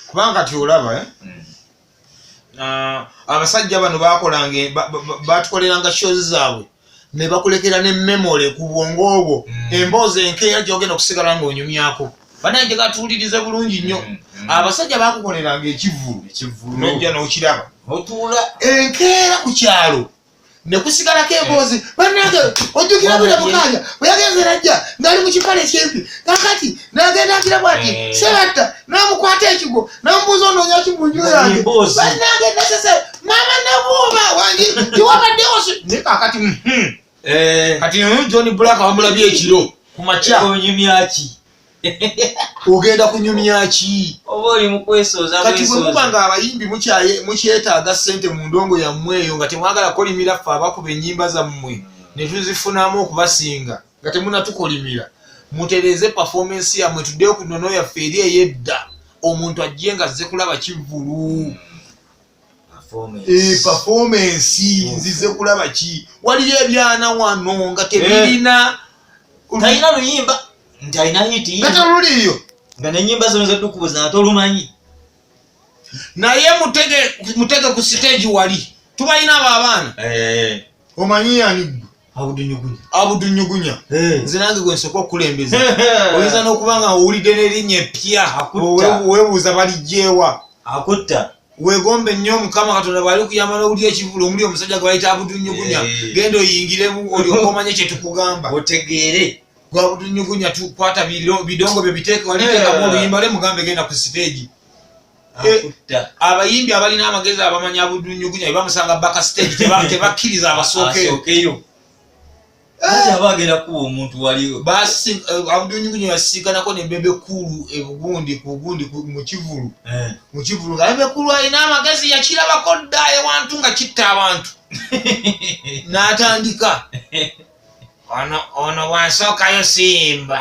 kubanga kati olaba eh? mm. ah, abasajja bano bakolanga batukoleranga shows zaabwe nebakulekera ne memole ku bwongo obwo mm. emboozi enkeera gyogenda okusigala nga onyumyako banange gatuwulirize bulungi nnyo mm, mm. abasajja bakukoleranga ekivulu nojja nokiraba enkeera ku kyalo nekusigalako emboozi eh. banange ojjukira buli mukanya bweyagenze najja ngali mukipale kyempi kakati nagenda agira bwati eh. sebatta namukwata ekigo namubuuza onoonya ki munju yange banange nesese mama nabuuma wangi tiwabaddewo ne kakati mhm. eh. kati hmm, john black wamulabye ekiro kumakya onyumyaki ogenda kunyumya ki oba oli mukwesooza kati bwe muba nga abayimbi mukyetaaga ssente mu ndongo yammwe eyo nga temwagala kolimira ffe abakuba ennyimba zammwe ne tuzifunamu okubasinga nga temunatukolimira mutereeze pafoomensi yammwe tuddeyo ku nono yaffe eri ey'edda omuntu ajje nga azze kulaba kivvulu Eh, performance nzize kulaba ki waliyo ebyana wano nga tebirina eh. talina luyimba nti alina hitiyatoluliyo nga nenyimba zino zetukubuza nga tolumanyi naye mutege ku siteegi wali tubalina abo abaana eh. omanyi yanigwe abudunyugunya abudunyugunya eh. nze nange gwe nsooka okukulembeza oyinza n'okuba nga owulidde n'erinnya eppya webuuza baligyewa akutta wegombe nnyo mukama katonda bwali kuyamba n'owuli ekivulu omuli omusajja gwe bayita abudunyugunya eh. genda oyingiremu olyoka omanye kye tukugamba otegeere gwe abudunyugunya tukwata bidongo bye biteeke waliteekamu eh. oluyimba lwe mugambe genda ku siteegi Eh, abayimbi abalina amagezi abamanya budunyugunya bamusanga baka stage tebakkiriza abasookeyo bagenda kuba omuntu waliwo eh, abudunyugunya yasiganako ne bebe kulu ebugundi kugundi mukivulu eh. mukivulu nga bebe kulu alina amagezi yakirabako dda ewantu nga kitta abantu n'atandika ono ono bwansookayo siyimba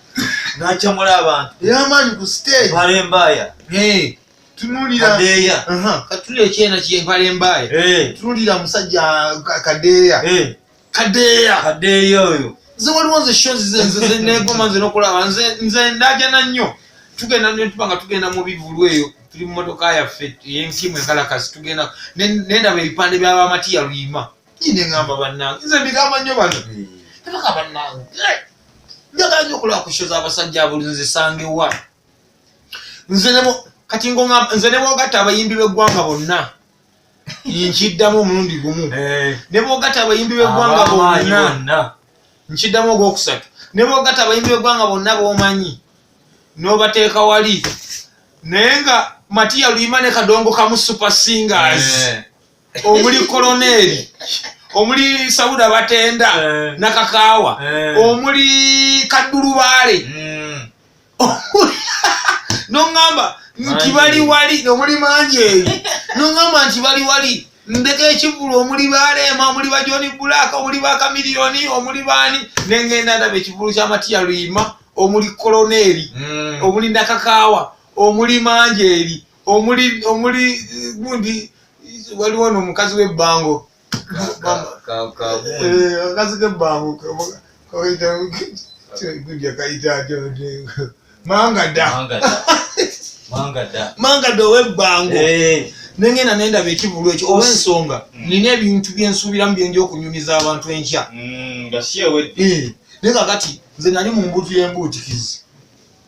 nacamula abantu eyamaanyi ku stage mpala embaaya tunulira kadeeya katulira ekyena kye mpala embaaya tunulira musajja kadeeya kadeeya kadeeya oyo nze waliwo nze sho zenegoma nze nokulaba nze nze ndajana nnyo tugenda netuba nga tugenda mu bivulu eyo tuli mu motoka yaffe yenkimu enkalakasi tugenda nendaba ebipande byabamatiya luyima Ine ngamba bannange nze mbigamba nnyo bano tebaka bannange njagala nyo okulaba ku show z'abasajja abuli nzisange wa nze nemo kati ngo nze ne bwogatta abayimbi b'eggwanga bonna nkiddamu omulundi gumu eh. ne bwogatta abayimbi b'eggwanga bonna nkiddamu ogwokusatu ne bwogatta abayimbi b'eggwanga bonna b'omanyi n'obateeka wali naye nga matiya luyima ne kadongo kamu super singers eh. omuli koloneeri omuli sauda batenda eh. nakakaawa eh. omuli kaddulubaale hmm. noŋamba nti bali wali omuli mangi eyo noŋamba nti bali wali ndeka ekivulu omuli baleema omuli ba john black omuli ba kamiliyoni omuli baani nengenda ndaba ekivulu kya matiya luyima omuli koloneeri hmm. omuli ndakakaawa omuli mangi eri omuli omuli gundi waliwo no mukazi we bango kazi ke bango kaita gundi kaita jo manga da manga da manga da manga do we bango eh nengenda nenda bekibulu ekyo oba ensonga mm. nina ebintu byensuubiramu byenja okunyumiza abantu enkya mm, eh, naye kakati nze nali mu mbutu yembuutikizi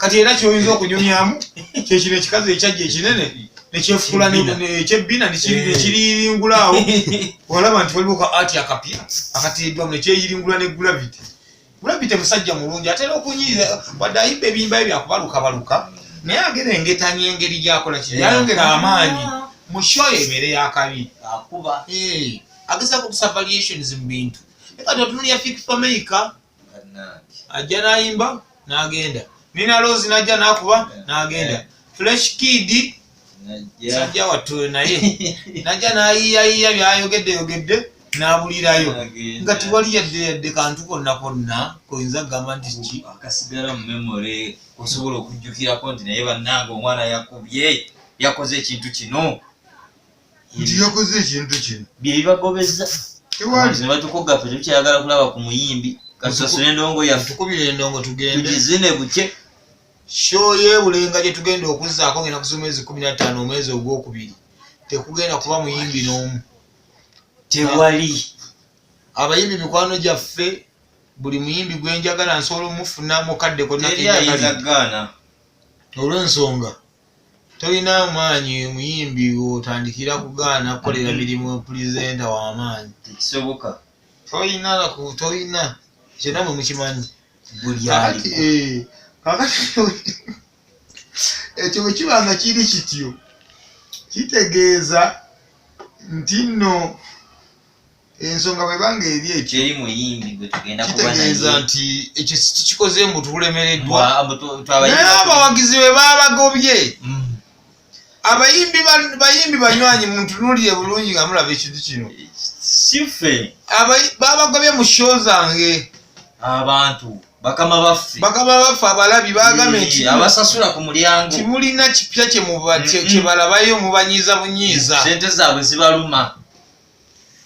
kati era kyoyinza okunyumyamu kyekino ekikazi ekyajja ekinene nekyefukula ekyebbina nekiyiringula awo olaba nti waliwo ka ati akapya akateeddwamu nekyeyiringula ne gravity gravity musajja mulungi atera okunyiiza wadde ayimba ebiyimbayo byakubalukabaluka naye agera engetanya engeri gyakola ki yayongera amaanyi mu show ebeere yakabi akuba agezako obusavaliations mu bintu ekatontunulya fik fameica ajja nayimba nagenda nina lozi najja nakuba nagenda eh. fresh kid sajja wattu naye najja nayiyayiya byayogedde yogedde nabulirayo nga tiwali yadde yadde kantu konna konna koyinza kugamba nti ki akasigala mu memory osobola okujjukirako nti naye bannanga omwana yakubye yakoze ekintu kino nti yakoze ekintu kino byebibagobeza tewalinebatukugga fe tetukyayagala kulaba ku muyimbi kasasula endongo yatukubira endongo tugendetugizine bukye sho yebulenga gyetugenda okuzaako ngenda kuza omwezi kumi nataano omwezi ogwokubiri tekugenda kuba muyimbi n'omu tewali abayimbi mikwano gyaffe buli muyimbi gwenjagala nsobola omufuna mukadde konnakenyagala olwensonga Tolina amaanyi muyimbi w'otandikira kugaana kukolera mirimu pulizenta w'amaanyi. Tekisoboka. Tolina naku tolina ekyo namwe mukimanyi. Buli ali. Eh, kakati ekyo bwe kiba nga kiri kityo kitegeeza nti nno. ensonga bweba nga eri ekyo eri muyimbi gwe tugenda kuba naye kitegeeza nti ekyo sikikoze mbu tulemereddwa naye abawagizi be babagobye mm. abayimbi bayimbi banywanyi muntunulire bulungi nga mulaba ekintu kino sife babagobye mu sho zange abantu bakama baffe bakama baffe abalabi bagambe nti abasasula ku mulyango timulina kipya kyebalabayo mubanyiiza bunyiiza sente zaabwe zibaluma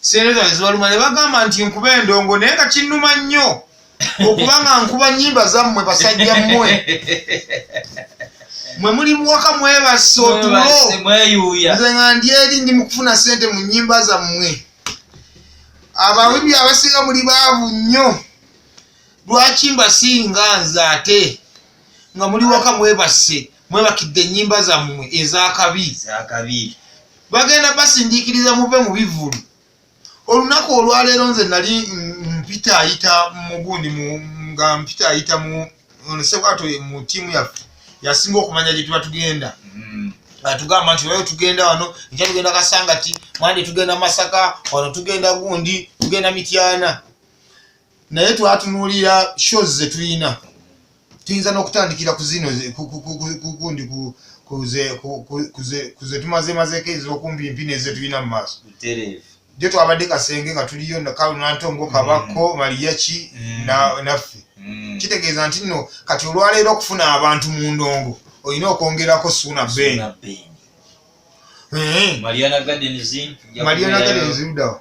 sente zange zibaluma ne bagamba nti nkuba endongo naye nga kinnuma nnyo okuba nga nkuba nyimba zammwe basajja mmwe mwe muli muwaka mwebasse otulo nze nga ndi eri ndi mu kufuna sente mu nyimba zammwe abawibi abasinga muli baavu nnyo lwaki mbasinga nze ate nga muli waka mwebasse mwebakidde ennyimba zammwe ezakabi bagenda basindiikiriza muve mu bivvulu olunaku olwaleero nze nali mpita ayita mugundi nga mpita ayita mu sebwato mu tiimu yaffe yasinga okumanya gye tuba tugenda hmm. atugamba nti wayo tugenda wano nja tugenda kasangati mwandi tugenda masaka wano tugenda gundi tugenda mityana naye twatunuulira shows zetulina tuyinza n'okutandikira ku zino kundi kuzetumazemazeeko ezokumpi mpi nezetulina mu maaso jo twabadde kasenge nga tuliyo kalunantongo mm. kabakko maliyaki mm. naffe mm. kitegeeza nti nno kati olwaleero okufuna abantu mu ndongo olina okwongerako suuna ben eh. mariana gardens ludawa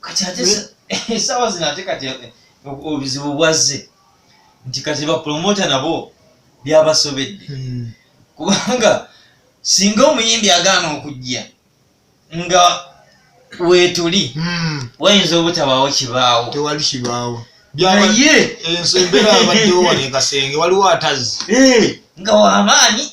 kati ate esawa zino ate kati eh, obuzibu bwazze nti kati bapromota nabo byabasobedde hmm. kubanga singa omuyimbi agaana okujja nga wetuli hmm. wayinza obutabaawo kibaawo tewali kibaawo naye enso embeera abaddewo wano ekasenge waliwo atazzi eh, nga wamaanyi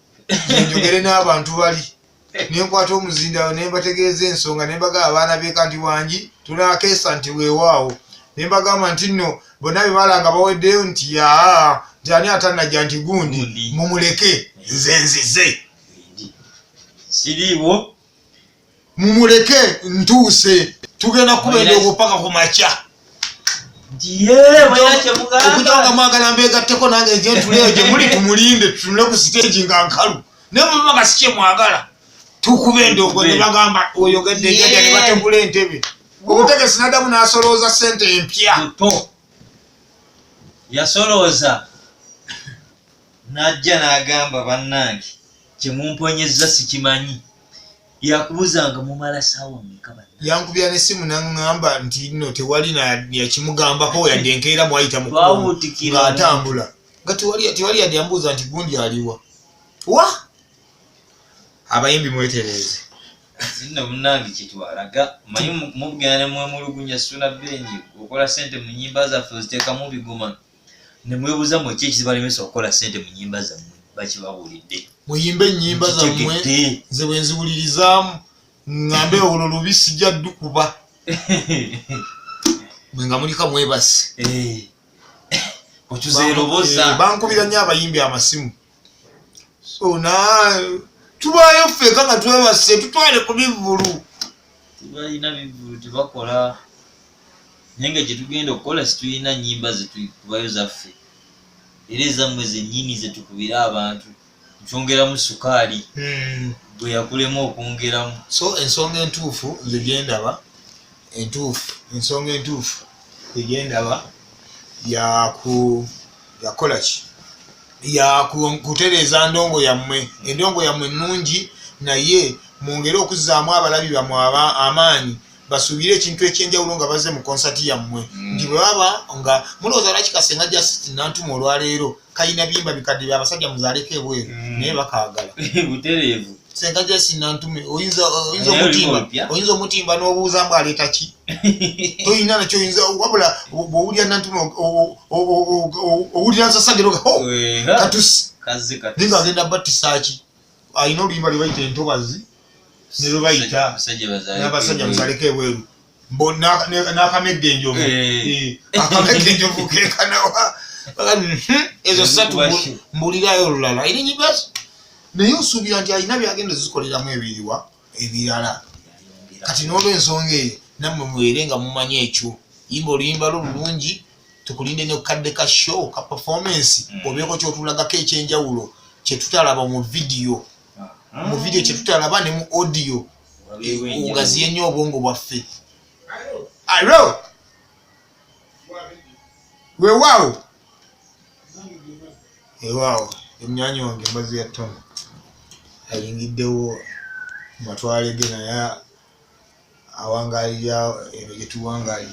nenjogere n'abantu bali nenkwata omuzindawo nembategeeza ensonga nembagaba abaana beka nti wangi tunakeesa nti wewaawo nembagamba nti nno bonna bebala nga baweddeyo nti yaa nti ani atanajja nti gundi mumuleke nze nzize siriiwo mumuleke ntuuse tugenda kuba endoogo paka ku makya okujanga mwagala mbegatteko nange nze ntuleyo gye muli tumulinde tutunule ku siteegi nga nkalu naye muba nga sikye mwagala tukuba endoogo ne bagamba oyogedde jaja ne bategula entebe obutegesi nadamu nasolooza sente empya yasolooza n'ajja n'agamba bannange kye mumponyezza sikimanyi yakubuuzanga mumala saawa meka yankubira nesimu naŋŋamba nti no tewali yakimugambako yadde enkeera mwayita muatambula nga tewali yadde yambuuza nti gundi aliwa wa abayimbi mwetereeze zinno munange kyetwalaga manyi mubugenda nemwemulugunya suna beni okola sente mu nyimba zaffe oziteekamu bigoma ne mwebuza mwe ki ekizibalemesa okukola sente mu nyimba zammwe bakibabuulidde muyimbe ennyimba zammwe nze bwe nziwulirizaamu ngambe olwo lubi sijja dukuba mwe nga mulika mwebasi eh. okyuza eroboza eh, bankubira nnyo abayimbi amasimu sona tubaayo ffeka nga twebase tutwale ku bivvulu tubalina bivvulu tebakola naye nga gyetugenda okukola situlina nyimba zetukubayo zaffe era ezammwe zennyini zetukubira abantu nkyongeramu sukaali hmm. bwe yakulemu okwongeramu so ensonga entuufu nze gyendaba entuufu ensonga entuufu egyendaba yakuyakola ki yakutereeza ndongo yammwe endongo yammwe ennungi naye mwongere okuzzaamu abalabi bamwe amaanyi basuubire ekintu ekyenjawulo nga bazze mu konsati yammwe mm. nti bwebaba nga mulowooza lwaki kasenga just nantuma olwaleero kalina biyimba bikadde bya basajja muzaaleko ebweru mm. naye bakaagala butereevu senga jasinantume oyinza omutimba oyinza omutimba n'obuuza mbu aleeta ki toyina nakyo oyinza wabula bwowulira nantume owulira nsasageroga oh, katusi ninga agenda battisaaki alina oluyimba lwebayita entobazi nelwebayita nabasajja muzaaleko ebweru mbo nakamegga enjovu eh. Eh, akamegga enjovu kekanawa hmm, ezo satu mbulirayo olulala irinyibasi naye osuubira nti alina byagenda zikoleramu ebiriwa ebirala kati n'olwensonga eyo nammwe mubeere nga mumanyi ekyo yimba oluyimba lwo lulungi tukulinde ne kukadde ka show ka performance hmm. obeeko kyotulagako ekyenjawulo kyetutalaba mu vidiyo mu vidiyo kyetutalaba ne mu audio ogaziye nnyo obwongo bwaffe alo wewaawo ewaawo emyanya wange mbazi ya tona ayingiddewo matwale ge naye awangalira ebyo gyetuwangalira